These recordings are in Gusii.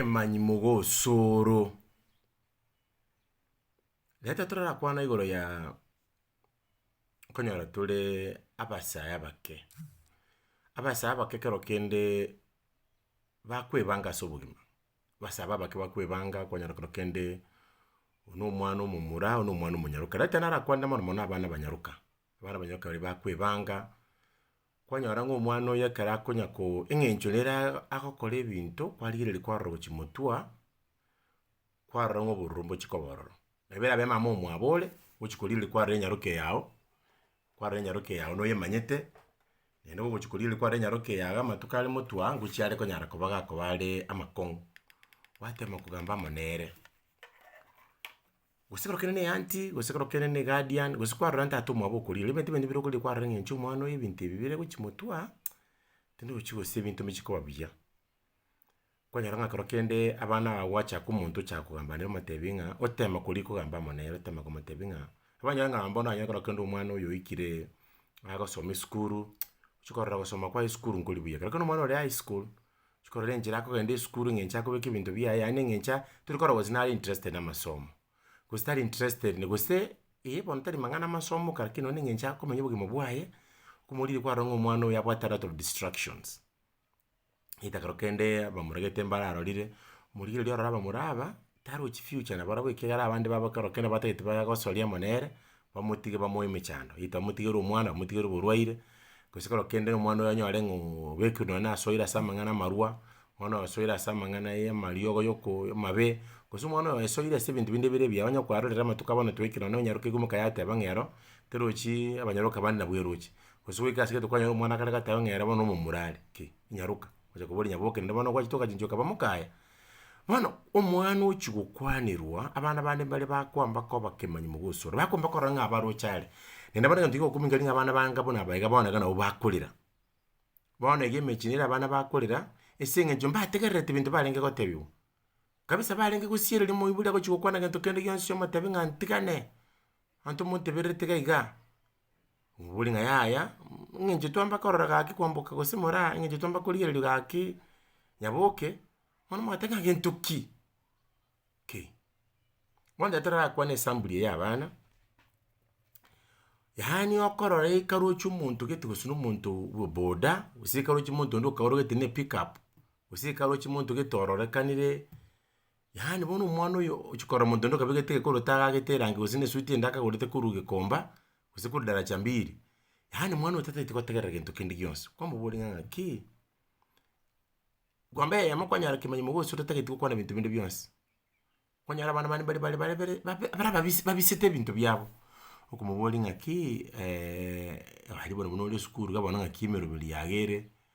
Emanyi mogosoro. Reta torakwana igoro ya okonyora tore abasae abake, abasae abake kero kende bakwebanga ase obogima, abasae abake bakwebanga okonyora kero kende oyo na omwana omomura oyo na omwana omonyaroka, reta narakwanire mono mono abana abanyaroka, abana abanyaroka baria bakwebanga Kwanyora ng'a omwana oyo ekero akonya ko eng'encho nere agokora ebinto kwarigereria kwarora gochia motwe, kwarora ng'a obororo mbochia koba ororo. Nabo erabe mama omwabo ore, ogochia korigereria kwarora enyaroke yago, kwarora enyaroke yago na oyemanyete, naende ogochia korigereria kwarora enyaroke yago amatuko are motwe aa, ngochia are konyara koba gakoba are amakong'u, gwatema kogamba amo nere. Gose ekero kende ne aunty, gose ekero kende ne guardian, gose kwarora ntato ase omwabo okoriire, rirorio ebinto binde mbire okoriire kwarora ng'a inche omwana oyo ebinto ebi bire gochia motwe, tindochi gose ebinto mbichie koba buya. Kwanyora ng'a ekero kende abana aba gwachaka omonto ochaka kogamba nere omotebia ng'a otema koria kogamba amo nere otema komotebia ng'a, abanyore ng'a bono onye ekero kende omwana oyo oikire agosoma esukuru, ochi korora gosoma kwaye esukuru nkori buya, ekero kende omwana ore high school. chikorora enchera akogenda esukuru eng'encho akobeka ebinto biaye yaani eng'encho a tori korora gose nare interested na amasomo, gose tari interested na gose eh bono tari mang'ana amasomo kare lakini nonye na eng'encho akomenya obogima bwaye, komorire kwarora ng'a omwana oyo abwate a lot of distractions. Egetagera kende abamura gete mbararorire, omorigeri oria ororo abamura aba. Tarochi future na barabwo ekiagera abande babo ekero kende batagete bagosoria amo nere, bamotige bamoe emechando, either bamotigerwe omwana, bamotigerwe oborwaire, gose ekero kende omwana oyo anyare ng'a oo obekire nonye na asoire ase amang'ana amarwa, omwana oyo asoire ase amang'ana ya amariogo ya okoo amabe, gose omwana oyo asoire ase ebinto binde bire ebiya, onye kwarorire amatuko abana twaikire nonye onyarokeirwe moka yateba ng'a ero, terochii abanyaroka bande nabwo eroche, gose goika ase egento kwanyora omwana kare gateba ng'a ere bono omomura are, ki, inyaroka, ocha kobori nyaboke rende bono gwachetoka chinchoka ba mokaya. Bono omwana ochia gokwanerwa, abana bande mbare bakwamba koba abakemanyi mogosora, bakwamba korora ng'a abaroche are, naende bono egento kigokumeka ring'o abana ba ngabo naba iga bono iga nabo bakorera. Bono iga emechi nere abana bakorera, ase eng'encho mbategererete ebinto barenge gotebiwa, kabisa barenge gosiereria moibori agochia gokwana gento kende gionsi omotebi ng'a ntigane, Abanto motebererete iga iga, mobori ng'a yaya, eng'encho twamba korora gaki kwamboka gose moraa eng'encho twamba korigererio gaki nyaboke, bono mwateba ng'a gento ki? Ki. Bono tete torakwane esambuli eye y'abana, yaani okorora ekaroche omonto gete gose na omonto bwa boda, gose ekaroche omonto onde okaoro gete na epikup, gose ekaroche omonto gete ororekanire. Yaani bono omwana oyo ochia korora monto onde okabegete egekorwa otagagete erangi gose na esuti ende akagorete korwa gikomba gose korwa daracha mbili, yaani mwana oyo tatagete gotegerera gento kende gionsi, kwamobori ng'a ng'aki, kwamba eyemo kwanyora kemanyimo gose totatageti gokwana binto binde bionsi. Kwanyora abana bande mbari bare bare bare babe bare ababisi babisete ebinto biabo, okomoboria ng'aki aria bono bono ore esukuru iga bono ng'aki emeroberi yago ere,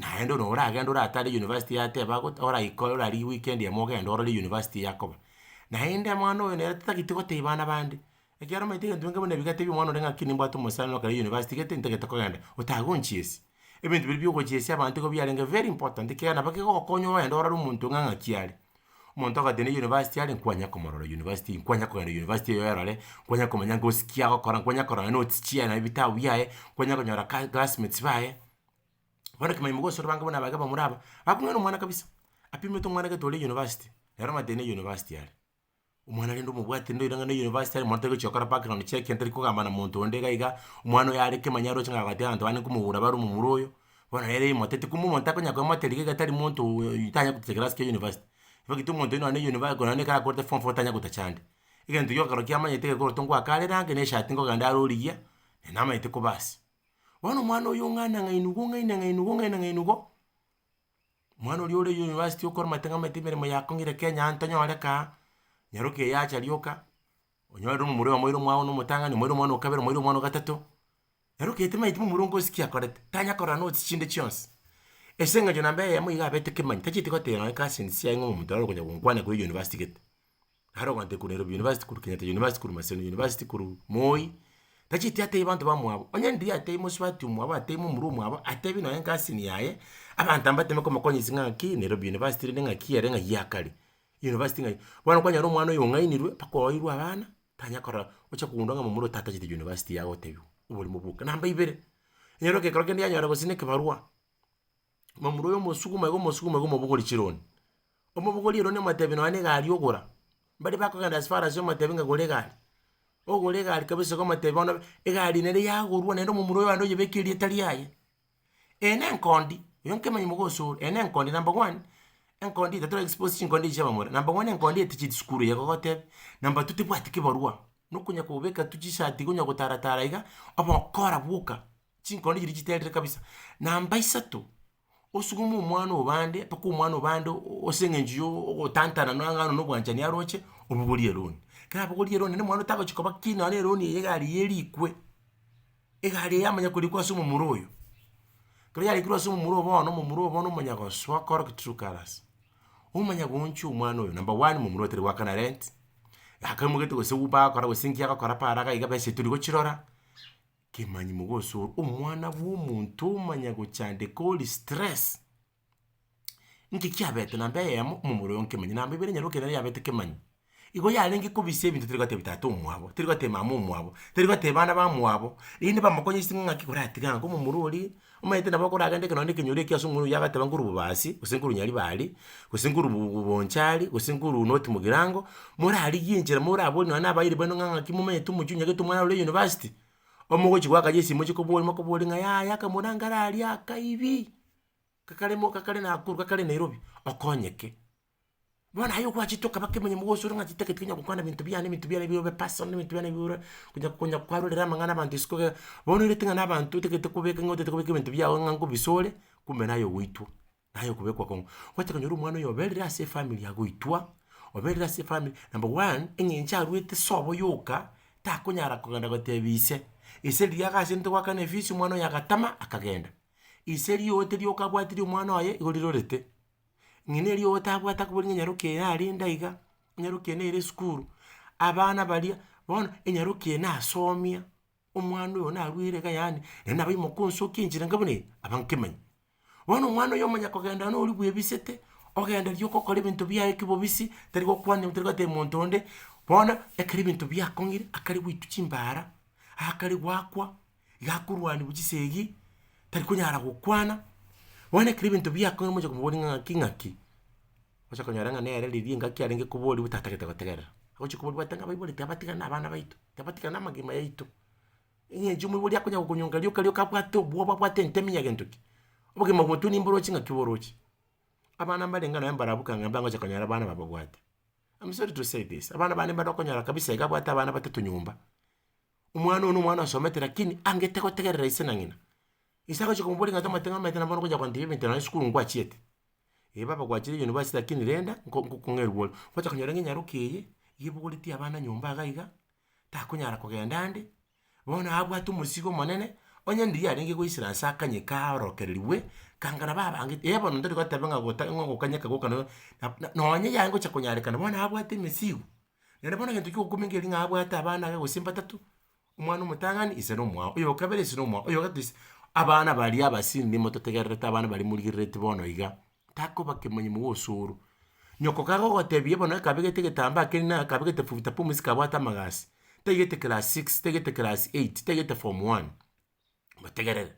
naende nonye oragende oratare university yateba goteba oraikore orarigie weekend emo ogende orore university eyakoba, naende mwana oyo nere totagete gotebia bana bande, ekiagera omanyete egento nko buna ebigatebia omwana ore ng'aki nimbwate omosani ore kare university gete ntagete kogenda, otage gonchiesia, ebinto biria biogochiesia abanto igo biarenge very important ekiagera nabo kegogokonya ogende orore omonto ng'a ng'aki are. Omonto ogotenena eyunivasiti are nkwanya komorora eyunivasiti, nkwanya kogenda eyunivasiti eyo erore, nkwanya komanya ngosi ki agokora, nkwanya korora notes chiaye nabwo ebitabu biaye, nkwanya konyora ka classmates baye, bono ekemanyererio mogosora abange buna abage abamura aba, bakong'ina omwana kabisa, apimete omwana gete ore eyunivasiti, nere omatenena eyunivasiti are. Omwana rende omobwate rende oirang'ane university aria omonyete gochia gokora background check tari kogamba na monto onde iga iga, omwana oyo are kemanyara oche ng'a gati abanto bande nkomogora bare omomura oyo, bono nere imotete kumbe omonto takonya komoteria iga iga tari monto oyo tanya gotetegera ase university. Ebagete omonto nonya ne university korende ekero akorete form four tanya gotacha ande. Egento gioka ekero kiamanyete iga ekero ngoaka are rank na eshati nkogenda are origia, na namanyete koba ase. Bono omwana oyo ong'ana ng'a ain igo ng'aina ng'aina igo ng'aina ng'aina igo. Omwana oria ore university okora amategete emeremo ya kongire Kenya aye ntonyore kaa, nyaroka eye acha rioka, onyorire omomura oyomo oire omwao na omotang'ani, omoire omwana o kabere, omoire omwana o gatato, nyaroka eye tamanyeti momura onga osikia akorete, tanya korora nonya nosi chinde chionsi, ase eng'encho namba eyemo iga abete kemanyi, tacheti goteba nonya cousins chiaye ng'a omonto ore konya gonkwana koyia university gete. Naro ogantete korwa Nairobi University korwa Kenyatta University korwa Maseno University korwa Moi, tacheti atebi abanto bamwabo, onye ndiri atebi mosubati omwabo atebi momura omwabo atebi nonye engassin yaye, abanto aba bateme komokonyesie ng'aki Nairobi University rende ng'aki ere ng'ai akare, University ng'ai. Bono kwanyora omwana oyo ong'ainirwe mpaka oeirwe abana, tanya korora oche kogundwa ng'a momura oyo tatacheti University yagotebiwa, oborimo boka. Namba ibere, onye ekero kende yanyora gose nekebarwa. Mamura oyo omosuguma iga omosuguma iga omobogori chironi, omobogori eroni omotebi nonye na egari ogora, mbare bakogenda as far as omotebi ng'a gora egari, ogore egari kabisa iga omotebi bono egari nere yagorwa naende omomura oyo aye oyebeke erieta riaye, eye na enkondi, oyo nkemenyo moka ase ore, eye na enkondi number one, enkondi eye tatora expose chinkondi echi chia abamura, number one enkondi eye tichieti sukuru eye egogoteba, number two tebwati kebarwa, nokonya kobeka tu chisati iga onya gotara tara iga, ogokora bwoka. Chinkone chiria chiterire kabisa. Namba isato, osuguma omwana obande mpaka omwana obande ase eng'encho ya ogotantana na ang'ana na obwanchani aroche, obogorie eroni. Ekero abogorie eroni naende omwana otagochia koba ki nonya na eroni eye egari eye erikwe, egari eye yamanya korikwa ase omomura oyo. Ekero yarikire ase omomura oyo bono, omomura oyo bono omanya gosoa korok true colours. Omanya gooncha omwana oyo, number one, momura oyo tari goakana rent, akamogete gose uber agokora gose inki agokora para iga besa etorigochirora. Kemanyimo gose ore omwana bw'omonto omanya gochandeka ore stress. Inki kiabete namba eyemo omomura oye nkemanyire namba ibere nyaroke nere yabete kemanyire igo yarenge kobisa ebinto tari gotebia tata omwabo tari gotebia mama omwabo tari gotebia bana bamwabo rende bamokonye ase ng'aki oratige ango omomura oria Omanyete nabo okoragenda ekero naende ekenyoro ekiya ase omobere oyio agateba nkorwa bobasi, gose nkorwa nyaribari, gose nkorwa bu- bu- bonchari, gose nkorwa not mogirango, morarigie enchera moraborie nonye na abairi baino ng'a ng'aki momanyete omochie o nyagete omwana ore university, omogochi goaka chisimu mochie kobori mokobori ng'a yaya akamorango ara aria akaibi, kakare mo kakare nakuru kakare nairobi, okonyeke. Bono aye ogwachete okaba kemonyama gose ore ng'a titageti konya gokwana ebinto biane ebinto biane ebio bibe personal ebinto biane ebio ore konya konya kwarorera amang'ana abanto isiko iga iga, bono oirete ng'a na abanto otagete kobeka ng'a otagete kobeka ebinto biago ng'a nkobisore, kumbe naye ogoitwa, naye okobekwa kong'u. Ogwete konyora omwana oyo oberire ase efamiri agoitwa, oberire ase efamiri number one, eng'encho arwete sobo yoka, takonyara kogenda gotebia ise, ise riria agasete goakana efisi omwana oyo agatama akagenda. Ise rioote rioka abwatirie omwana oye igo rirorete. ng'ina erio otabwate akobori ng'a nyaroki eye narende aiga, nyaroki eye nere esukuru, abana baria, bono enyaroki eye nasomia, omwana oyo narwere iga yaani, naende nabo imoka onsi okie enchera enka buna eye, aba nkemanya. Bono omwana oyo omanya kogenda nonye oria bwebisete, ogenda riria ogokora ebinto biaye kebobisi, tari gokwana ebinto tari gotebia monto onde, bono ekero ebinto biakong'ire, akare goitwa chimbara, akare goakwa. iga akorwaniwa chisegi, tari konyara gokwana, bono ekero ebinto biakorire moche komoboria ng'a ng'aki ng'aki, ocha konyora ng'a nere riria engaki arenge koboriwa tatagete gotegerera, agochi koboriwa bwate ng'a abaiborete abatiga na abana baito, tabatiga na amagima yaito, eng'encho omoibori akonya gokonyonga rioka rioka abwate obwoba abwate entemi ya gento ki. Obogima botwe nimboro ochi ng'aki boroche. Abana mbare ng'a naye mbarabwo kang'aimba ngocha konyora abana bababwate, am sorry to say this, abana bane mbare okonyora kabisa iga abwate abana batato nyomba. Omwana oyo nomwana osomete lakini angete gotegerera ise na ng'ina. Ise agochia komoboria ng'a tamaete ng'a omanyete nabono okochia kontebia ebinto nonya esukuru ngwachiete. Ee baba gwachire university lakini renda nko nkong'ee rwori. Ogocha konyora ng'a nyaroka eye, iga ebogoretie abana nyomba iga iga, takonyara kogenda ande, bono abwate omosigo omonene, onye ndiria arenge goisera nse akanye kaorokereriwe, kangana babange ee bono ntari goteba ng'a gota ng'a ogokanyeka goka nonya na nonya yaye ngocha konyarekana bono abwate emesigo. Naende bono egento kiogokumia nkeria ng'a abwate abana abe gose mbatato, omwana omotang'ani ise na omwao, oyo okabere ise na omwao, oyo ogato ise, abana baria abasindi motategererete abana baria morigerereti bono iga, takoba kemanyimo gose osoro. Nyoko kabe ogotebia bono akabegete egetambaa keria na akabegete futa pumzi kabwate amagasi, taigete class six, taigete class eight, taigete form one. motegerere,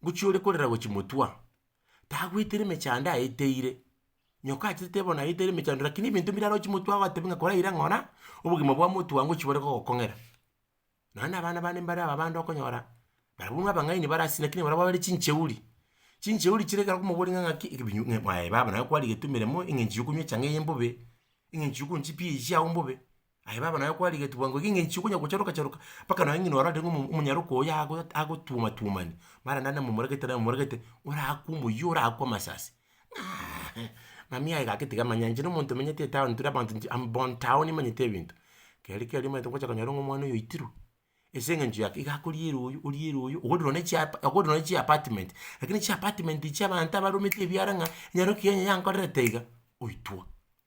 gochia ore korera gochia motwe, tagoetera emechando aeteire, nyoka achetete bono aeteire emechando lakini ebinto bire arochie motwe agotebi ng'a kore aira ng'ora, obogima bwa motwe aa ngochi bore gogokong'era. Nonya na abana bane mbare aba abande okonyora, barabwo buna abang'aini bare ase lakini barabwo babere chincheuri, chincheuri chire ekero okomoboria ng'a ng'aki ekebinyo ng'a mwaye baba naye kwarigetumire mo eng'encho ya okonywa echang'aa eye mbobe, eng'encho ya okonywaa chipiya echi chiago mbobe. Aye baba naye kwarigetigwa ngoko ng'a enchiko onya gocharoka charoka mpaka nonye ng'a orarenge omo omonyaroka oyo ago agotwoma twomani mara naende momoregete naende momoregete orakwe omoyio orakwe amasasi ng'aaaae mami aye gaki tiga manya inche na omonto omenyete etown tiri abanto inche am born town nimanyete ebinto. Keri keri omanyete gocha konyora ng'a omwana oyo oitirwe, ase eng'encho ya ki iga akoriera oyo oriera oyo ogodire nonye chiapa ogodire nonye chiapartment lakini chiapartment echi abanto abaromete ebiara ng'a enyaroka eye onye yankorerete iga, oitwa.